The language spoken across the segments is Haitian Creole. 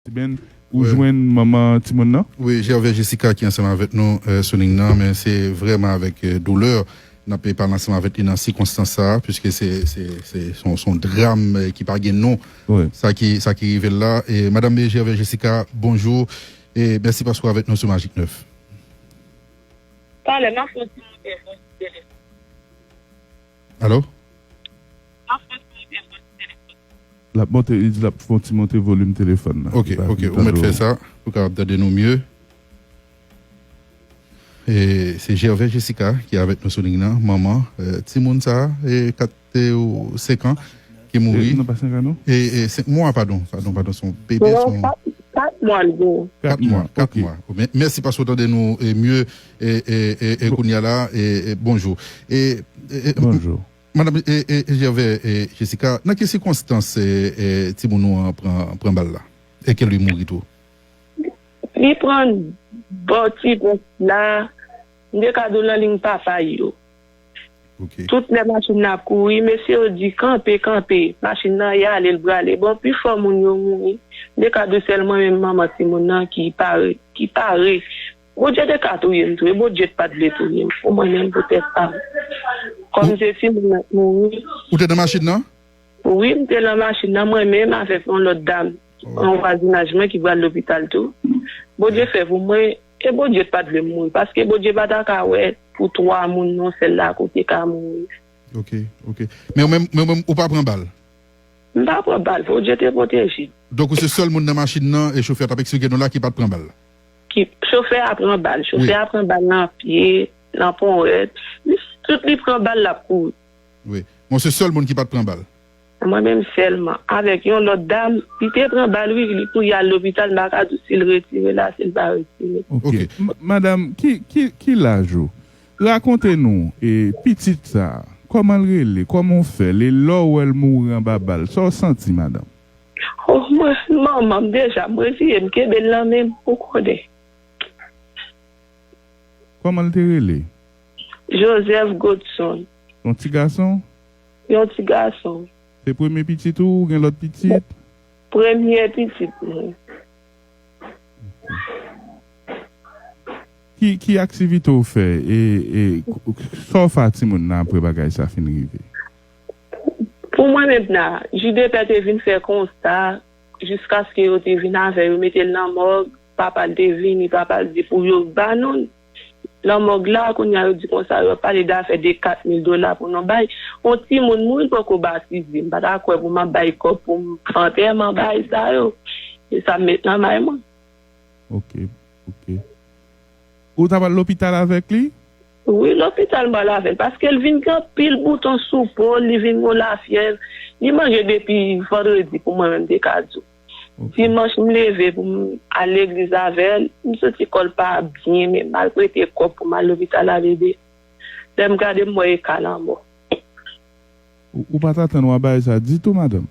Siben, ou jwenn manman timoun nan? Wi, Gervais Jessica ki ansanm avèk nou sou lign nan, men se vrèman avèk doulè n ap pale ansanm avèk li nan sikonstans sa a, piske se se yon dram ki pa gen non sa ki sa ki rive l la. Madam Gervais Jessica, bonjou e mèsi paske w avèk nou sou Magik 9. Talè m ap fè yon ti moute vwa sou telefòn. Alo? Lap monte li di lap fon ti monte volume telefòn nan. Ok ok ou mèt fè sa pou kapab tande nou mye. E se Gervais Jessica ki avèk nou sou ligne nan manman timoun sa e 4 ou 5 an ki mouri. Non pa 5 an non. E 5 mwa padon padon padon son bebe son. Non 4 mwa li genyen. 4 mwa 4 mwa. Mèsi paske ou tande nou mye. E e e kounya la e e bonjou e e Bonjou. Madam e e Gervais e Jessica nan ki sikonstans e e timoun nou an pran pran bal la e ke li mouri tou? Li pran bal timoun la m te ka di w nan liy papa l yo. Ok. Tout lè machin nan ap kouri mesye yo di kanpe kanpe machin nan y ale l prale bon pifò moun yo mouri m te ka di w sèl mwen menm manman timoun nan ki pare ki pare Bondye te ka touye m tou e Bondye t pat vle touye m pou mwen menm pou tèt pam kòm m se timoun mwen t mouri. Ou te nan machin nan? Wi m te lan machin nan mwen menm avèk yon lòt dam nan vwazinaj mwen ki pral lopital tou Bondye fè pou mwen e Bondye t pat vle m mouri paske Bondye pa ta ka wè pou 3 moun non sèl la kou te ka mouri. Ok ok men ou menm men ou menm ou pa pran bal? M pa pran bal Bondye te pwoteje m. Donk ou se sèl moun nan machin nan e chofè a tap eksplike nou la ki pat pran bal? Ki chofè a pran bal. Chofè a pran bal nan pye, nan powèt. Li tout li pran bal lap kouri. Wi. Mwen se sèl moun ki pat pran bal. Mwen menm sèlman. Avèk yon lòt dam. Li te pran bal wi, li kouri al lopital. M pa ka di w si l retire la, si l pa retire. Ok. Madam, ki laj ou? Rakonte nou e pitit sa a. Kòman l rele? Kòman w fè l? E lè w wè l mouri anba bal, sa w santi madanm? Oh mwen finn manman deja m reziye m kenbel nan menm ou konnen. Kòman l te rele? Joseph Godson. Yon ti gason? Yon ti gason. Se premye pitit ou ou gen lòt pitit? Premye pitit mwen. Ok. Ki aktivite ou fè e sa ou fè a timoun nan apre bagay sa finn rive? Pou mwen mentna, Jidepè te vin fè konsta jiskaske yo te vin avè yo mete l nan mòg, papa l te vini, papa l di pou yo ba nou l nan mòg la, kounya yo di konsa yo ap pale dafè de 4 mil dola pou nou bay on timoun mouri l poko batize, m pa ta kwè pou m ap bay kòb pou m fè antèman bagay sa yo, se sa m met nan may mwen. Ok, ok. Ou t ap al lopital avèk li? Wi lopital mwen laven paskel vin gen anpil bouton sou pol li vin gon lafyèv li manje depi vandredi pou mwen menm te ka diw dimanch m leve poum al legliz avèl m santi kòl pa byen men mal prete kòb poum al lopital ale de lèm gade m wè e ka lanmò. Ou pat atann wap bay sa ditou madanm.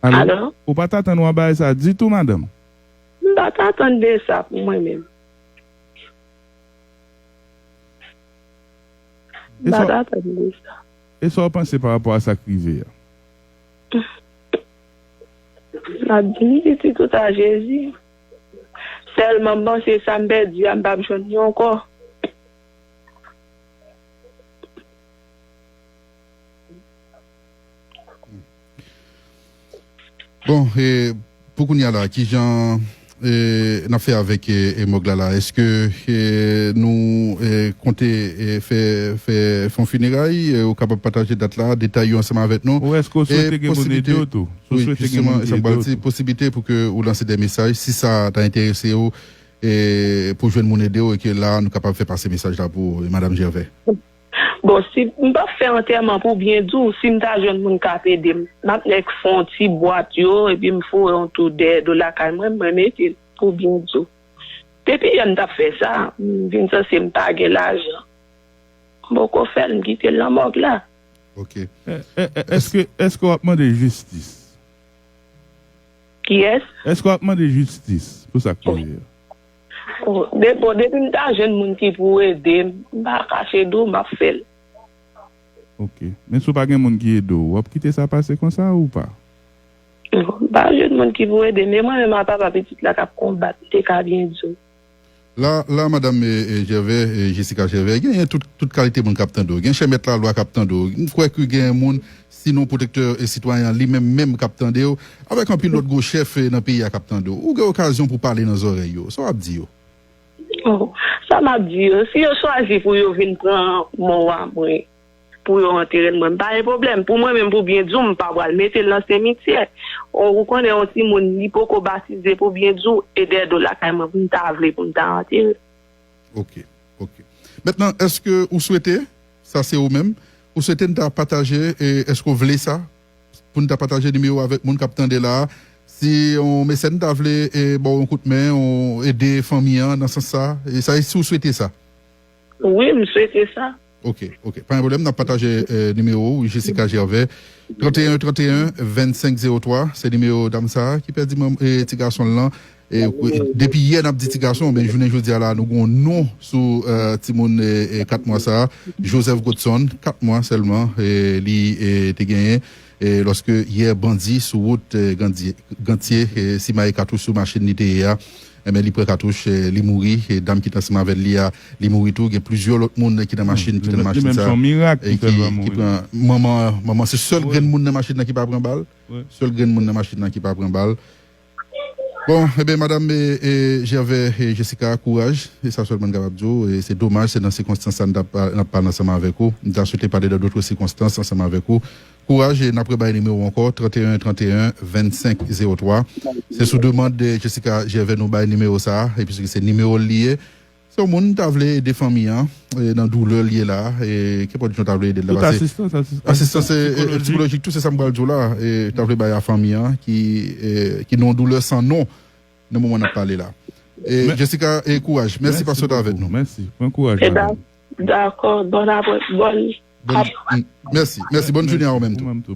Alo? Ou pa t atann w ap bay sa ditou madanm? M pa t atann de sa pou mwen menm. M pa t atann de sa. E sa w panse pa rapò a sa k rive a? M ap di ni pitit ou ta Jezi. Sèlman m panse sa m pèdi a m pap jwenn li ankò. Bon e pou kounya la kijan e nap fè avèk e mòg la la eske e nou e konte e fè fè fon fineray e ou kapab pataje dat la detay yo ansanm avèk nou Ou eske ou swete gen moun ede ou tou ou swete gen moun ki ede ou tou posiblite pou ke ou lanse de mesaj si sa ta enterese ou e pou jwenn moun ede ou e ke la nou kapab fè pase mesaj la pou ou madam Gervais. Bon si m pap fè antèman pou byen di w, si m ta jwenn moun k ap ede m, m ap nèk fè yon ti bwat yo epi m foure yon tou dèyè do lakay mwen, mwen mete l pou byen di w. Depi yè m t ap fè sa, m vin sanse m pa gen lajan. M poko fè l, m kite l nan mòg la. Ok. Èske, èske w ap mande jistis? Kiyès? Èske w ap mande jistis pou sa k rive yo? Bon depi m ta jwenn moun ki pou ede m m pa kache di w m ap fè l. Ok. Men si w pa gen moun ki ede w, w ap kite sa pase konsa ou pa? Bon, m pa jwenn moun ki pou ede m e mwen menm a papa pitit la k ap konbat m te ka byen di w. La la madam Jèvè, Jessica Jèvè, genyen tout kalite moun k ap tande w. Gen chè mèt lalwa k ap tande w. M kwè ke genyen moun Sinon pwotektè sitwayen an li menm menm k ap tande w, avèk anpil lòt gwo chèf nan peyi a k ap tande w, ou gen okazyon pou pale nan zòrèy yo, sa w ap di yo? O, sa m ap di yo, si yo chwazi pou yo vin pran mò wa mwen, pou yo antere l, mwen m pa gen pwoblèm. Pou mwen menm, pou byen di w, m pa pral mete l nan semityè. O, ou konnen yon timoun li poko batize pou byen di w, e dèyè do lakay mwen pou m ta vle pou m ta antere l. Ok ok mèt nan eske ou swete sa se ou menm ou swete n ta pataje e eske ou vle sa pou n ta pataje nimewo avèk moun kap tande la si yon mesèn ta vle e baw yon kout men ou ede fanmi an nan sans sa e sa e si ou swete sa. Wi m swete sa. Ok ok pa gen pwoblèm nap pataje nimewo ou Jessica Gervais 31 31 25 03 se nimewo dam sa ki pèdi manml ti gason l lan depi yè nap di ti gason men jounen jodi a la nou gon non sou timoun 4 mwa sa Joseph Godson 4 mwa sèlman li te genyen lòske yè bandi sou wout gantye simaye katouch sou machin li te ye a. Enben li pran katouch li mouri e dam ki t ansanm avè l li a li mouri tou gen plizyè lòt moun ki nan machin ki te nan machin sa ki pran manman an manman se sèl grenn moun nan machin nan ki pa pran bal sèl grenn moun nan machin nan ki pa pran bal bon enben madam jèvè jessica kouraj se sa sèlman n kapab di w se domaj se nan sikonstans sa n t ap ansanm avèk ou m ta swete pa de nan dotre sikonstans ansanm avèk ou Kouraj e n ap rebay nimewo ankò, 31 31 25 03. Se sou demand Jessica Gervais nou bay nimewo sa a, episke se nimewo l li ye. Si yon moun ta vle ede fanmi an nan doulè l ye la a, e kenpòt jan w ta vle ede l la, Tout pase asistans, asistans asistans sikolojik. sikolojik tou, se sa m pral di w la a, e ta vle bay a fanmi an ki nan yon doulè san non nan moman n ap pale la. E Jessica, e kouraj. Mèsi paske w t avèk nou. Mèsi. Pran kouraj, madanm. Dakò bon aprè bon ap. Mèsi mèsi bòn jounen a ou menm tou.